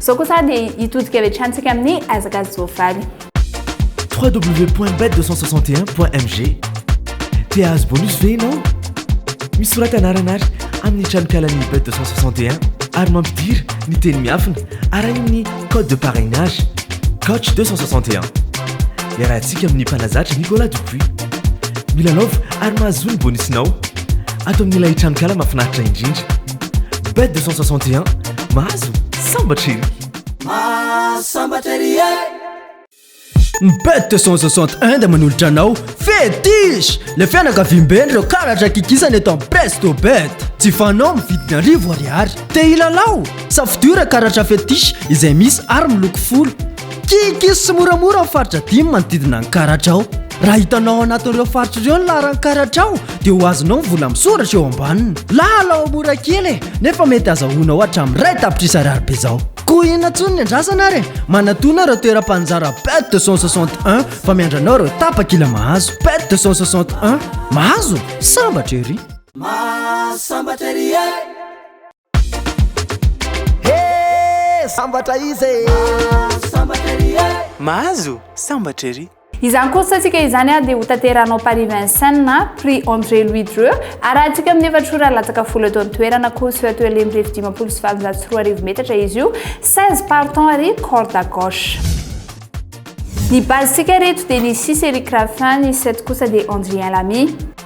Izao kosa dia hitodika avy hatrany isika amin'ny hazakazaka voavaly. www.bet261.mg Te hahazo bonus ve ianao? Misorata anarana ary amin'ny tranonkalan'ny Bet 261 ary mampidira ny teny miafina arahin'ny code de parrainage Coach 261. Iarahantsika amin'ny mpanazatra Nicolas Dupuis. Milalaova ary mahazoa ny bonus-nao ato amin'ilay tranonkala mahafinaritra indrindra. bet 261 mahazo sambatra ery sambatra ery e ny bet 261 dia manolotra anao fetish le fianakaviambe ireo karatra kikisana eto amin'ny presto bet tsy fanao amin'ny vidiny arivo ariary te hilalao safidio ireo karatra fetish izay misy ary miloko folo Kikis sy moramora ao faritra dimy manodidina ny karatra ao. Raha hitanao ao anatin'ireo faritra ireo ny laharan'ny karatra ao dia ho azonao ny vola misoratra eo ambaniny. Lalao mora kely e, nefa mety azahoanao hatramin'ny iray tapitrisa ariary be izao. Koa inona intsony ny andrasana ary e! Manatona ireo toeram-panjara Pet 261 fa miandry anao ireo tapakila mahazo. Pet 261, mahazo? Sambatra ery! Mahasambatra ery e! Hee sambatra izy e! Mahazo sambatra ery e! Mahazo sambatra ery! Izany course tsika izany dia ho tanterahana ao Paris Vincennes na Prix André Louis Dreux. Arahantsika amin'ny efatra ora latsaka folo eto an-toerana. Course eo Atoelay mirefy dimampolo sy valonjato sy roa arivo metatra izy io. 16 partants ary corde à gauche. Ny base-tsika ireto dia ny six Eric Raffin, ny sept kosa dia Andrien Lamy.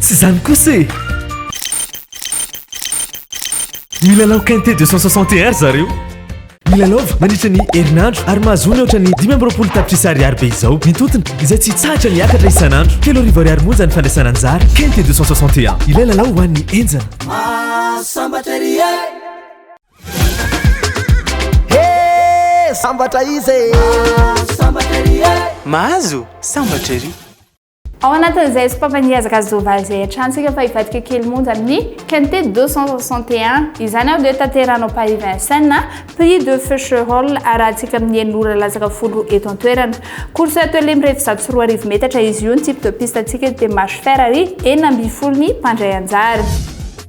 Tsy izany kosa e! Milalao quintet 261 ry zareo. Milalaova mandritra ny herinandro ary mahazoa ny ohatran'ny dimy amby roapolo tapitrisa ariary be izao ny tontony izay tsy hitsahatra ny akatra isan'andro. Telo arivo ariary monja ny fandraisana anjara. Quintet 261, ilay lalao ho an'ny henjana. Mahasambatra ery e! Sambatra izy e! Sambatra ery e! Mahazo sambatra ery! Ao anatin'izay sopapa ny ezaka Zovaly izay iantrantsika fa hivadika kely monja amin'ny Quinte 261. Izany ary dia tanteranao Paris Vincennes, Prix de Feu Cherol arahantsika amin'ny enina ora latsaka folo roa eto an-toerana. Course atelier mirefy zato sy roa arivo metatra izy io, ny type de piste antsika eto dia marche fer ary enina ambin'ny folo ny mpandray anjara.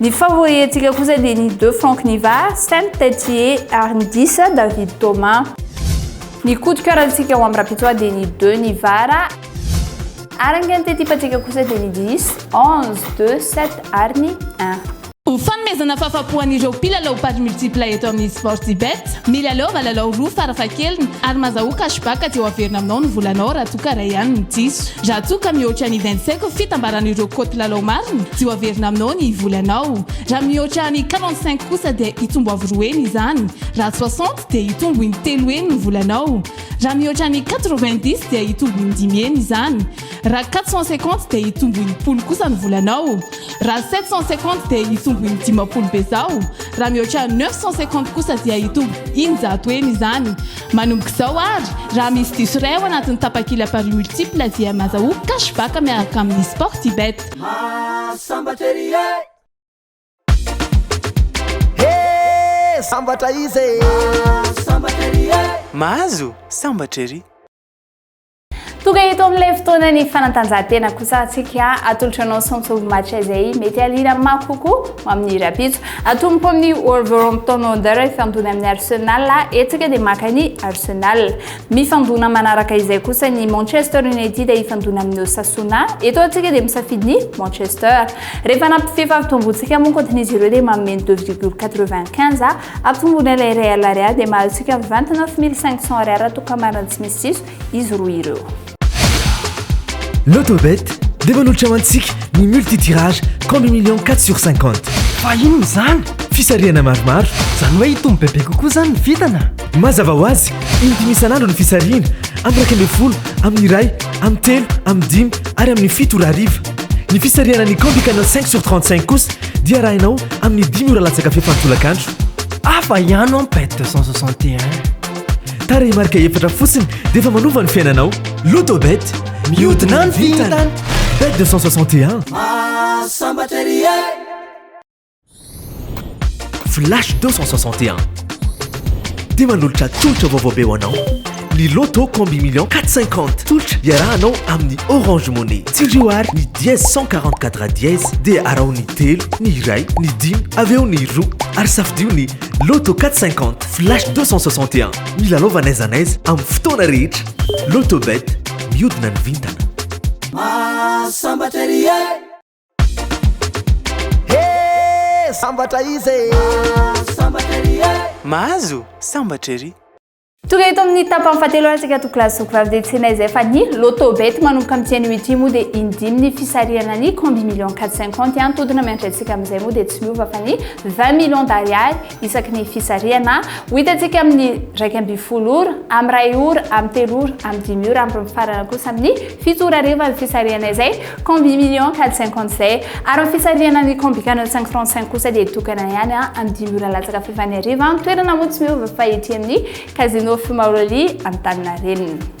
Ny favorientsika kosa dia ny deux Franck Niva, Saint Tetsie ary ny dix David Thomas. Ny coup de coeur antsika ao amin'ny Rapitsoa dia ny deux Nivara. Ary ny quinte type antsika kosa dia ny dix, onze, deux, sept ary ny un. Ho fanomezana fahafapo an'ireo mpilalao paris multiple eto amin'ny Sportybet, milalaova lalao roa farafahakeliny ary mazahoa cashback dia ho averina aminao ny volanao raha toa ka iray ihany no diso. Raha toa ka mihoatra ny vingt-cinq fitambaran'ireo kaoty lalao marina dia ho averina aminao ny volanao. Raha mihoatra ny quarante-cinq kosa dia hitombo avo roa heny izany. Raha soixante dia hitombo in-telo heny ny volanao. Raha mihoatra ny quatre-vingt-dix dia hitombo in-dimy heny izany. Raha quatre cent cinquante dia hitombo in-polo kosa ny volanao. Raha sept cent cinquante dia hitombo in-dimampolo bezao. Raha mihoatra neuf cent cinquante kosa dia hitombo in-jato heny izany. Manomboka izao ary, raha misy diso iray ao anatin'ny tapakila Paris Multiple dia maza ho cash back miaraka amin'ny Sportybet. Mahasambatra ery e! He! Sambatra izy e! Mahasambatra ery e! Mahazo sambatra ery! Tonga eto amin'ilay fotoana ny fanatanjahantena kosa atsika atolotra anao Sancho match izay mety alina mafy kokoa ho amin'ny rapitso. Atomboka amin'ny Wolverhampton Wanderers hifandona amin'ny Arsenal isika dia maka ny Arsenal. Mifandona manaraka izay kosa ny Manchester United hifandona amin'ny Osasuna. Eto atsika dia misafidy ny Manchester. Rehefa nampifefa ampitombontsika moa ankoatr'izy ireo dia manome ny 2,95 ampitombona ilay iray alariary dia mahazo isika mivantana 9500 ariary raha toa ka marina tsy misy diso. izy roa ireo. Lotobet dia manolotra ho antsika ny multitirage combi million 4 sur 50. Fa inona izany? Fisarihana maromaro. Izany hoe hitombo bebe kokoa izany ny vintana? Mazava ho azy, in-dimy isan'andro ny fisarihana, amin'ny iraika ambin'ny folo, amin'ny iray, amin'ny telo, amin'ny dimy ary amin'ny fito ora hariva. Ny fisarihana ny combi canal 5 sur 35 kosa dia arahinao amin'ny dimy ora latsaka fefany tolakandro. Hafa ihany an bet 261. Tarehimarika efatra fotsiny dia efa manova ny fiainanao. Lotobet, mihodina ny vintana. Bet 261. Mahasambatra ery e! Flash 261. Dia manolotra tolotra vaovao be ho anao. Ny Lotto Combi Million 450. Tolotra iarahanao amin'ny Orange Money. Tsindrio ary ny dièse 144 dièse dia araho ny telo, ny iray, ny dimy, avy eo ny roa ary safidio ny Lotto 450. Flash 261, milalaova n'aiza n'aiza amin'ny fotoana rehetra. Lotobet, miodina ny vintana. Mahasambatra ery e! He! Sambatra izy e! Mahasambatra ery e! Mahazo sambatra ery! Tonga eto amin'ny tapany fahatelo ary isika toko laza soko vavy dia tsy inona izay fa ny Lotobet manomboka amin'ity anio ity moa dia indimy ny fisarihana ny combi million 450 an, todina miantra antsika amin'izay moa dia tsy miova fa ny 20 millions d'ariary isaky ny fisarihana, ho hitantsika amin'ny iraika ambin'ny folo ora, amin'ny iray ora, amin'ny telo ora, amin'ny dimy ora, amin'ny farana kosa amin'ny fito ora hariva ny fisarihana izay combi million quatre cinquante izay. Ary ny fisarihana ny combi canon cinq trente cinq kosa dia tokana ihany amin'ny dimy ora latsaka fahefany hariva, ny toerana moa tsy miova fa ety amin'ny Casino Fumaroly Antaninarenina.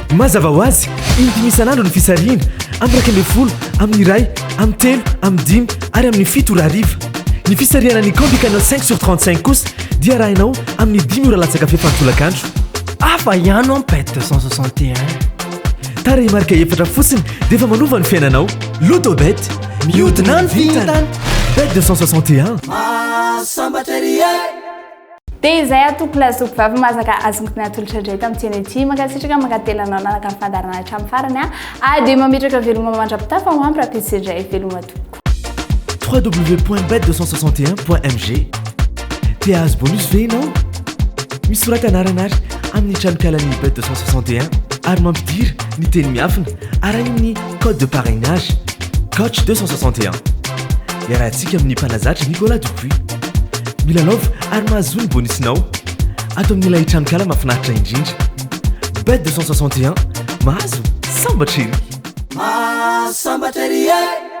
Mazava ho azy, indimy isan'andro ny fisarihina, amin'ny iraika ambin'ny folo, amin'ny iray, amin'ny telo, amin'ny dimy ary amin'ny fito ora hariva. Ny fisarihana ny Combi Canal 5 sur 35 kosa dia arahinao amin'ny dimy ora latsaka fefan'ny tolakandro. Hafa ihany ho'a Pet 261. Tarehimarika efatra fotsiny dia efa manova ny fiainanao. Loto Bet, mihodina ny vintana! Bet 261. Mahasambatra ery e! Dia izay atoko la zoky vavy masaka azonko natolotra indray tamin'ity anio ity. Mankasitraka mankatelina anao nanaraka ny fandaharana hatramin'ny farany a. Ary dia mametraka veloma mandra-pitafa ho ampy rahampitso indray. Veloma tompoko. www.bet261.mg Te hahazo bonus ve ianao? Misorata anarana ary amin'ny tranonkalan'ny Bet 261 ary mampidira ny teny miafina. arahin'ny code de parrainage, coach 261. Iarahantsika amin'ny mpanazatra Nicolas Dupuis. Milalaovy ary mahazoa ny bonusinao ato amin'ilay tranonkala mahafinaritra indrindra. Bet 261, mahazo sambatra ery! Mahazo sambatra ery e!